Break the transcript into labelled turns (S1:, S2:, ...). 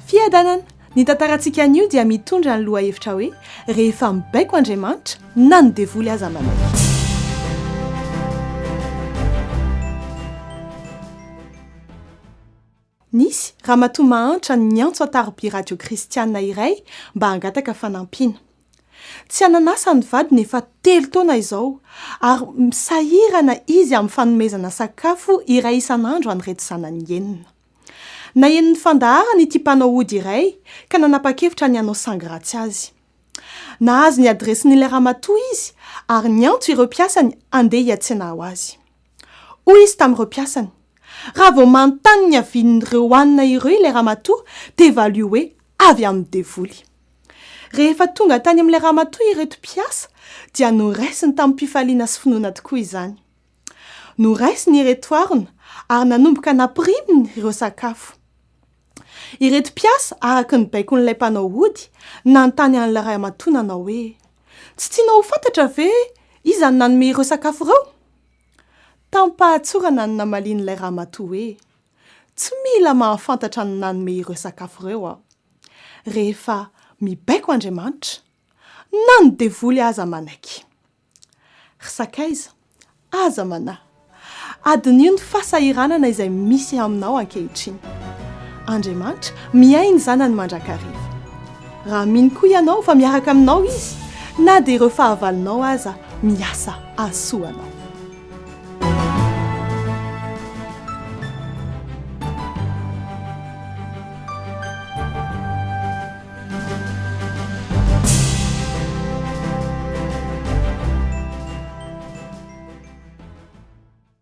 S1: Fiadanana. Ny tantarantsika anio dia mitondra ny lohahevitra hoe, Rehefa mibaiko Andriamanitra, na ny devoly aza manaiky. Nisy ramatoa mahantra niantso an-tarobia radio kristiana iray mba hangataka fanampiana. Tsy anan'asa ny vadiny efa telo taona izao, ary sahirana izy amin'ny fanomezana sakafo iray isan'andro an'ireto zanany enina. Naheno ny fandaharana ity mpanao ody iray, ka nanapa-kevitra ny hanao sangy ratsy azy. Nahazo ny adiresin'ilay ramatoa izy, ary niantso ireo mpiasany handeha hiantsena ho azy. Hoy izy tamin'ireo mpiasany, Raha vao manontany ny havian'ireo hanina ireo ilay ramatoa, dia valio hoe, 'Avy amin'ny devoly. Rehefa tonga tany amin'ilay ramatoa ireto mpiasa, dia noraisiny tamim-pifaliana sy finoana tokoa izany. Noraisiny ireto harona, ary nanomboka nampiriminy ireo sakafo. Ireto mpiasa, araka ny baikon'ilay mpanao ody, nanontany an'ilay ramatoa nanao hoe, Tsy tianao ho fantatra ve iza no nanome ireo sakafo ireo? Tamim-pahatsorana no namalian'ilay ramatoa hoe, Tsy mila mahafantatra ny nanome ireo sakafo ireo aho. Rehefa mibaiko Andriamanitra, na ny devoly aza manaiky. Ry sakaiza, aza manahy. Adinio ny fasahiranana izay misy aminao ankehitriny. Andriamanitra miahy ny zanany mandrakariva. Raha mino koa ianao fa miaraka aminao izy, na dia ireo fahavalonao aza miasa ahasoa anao.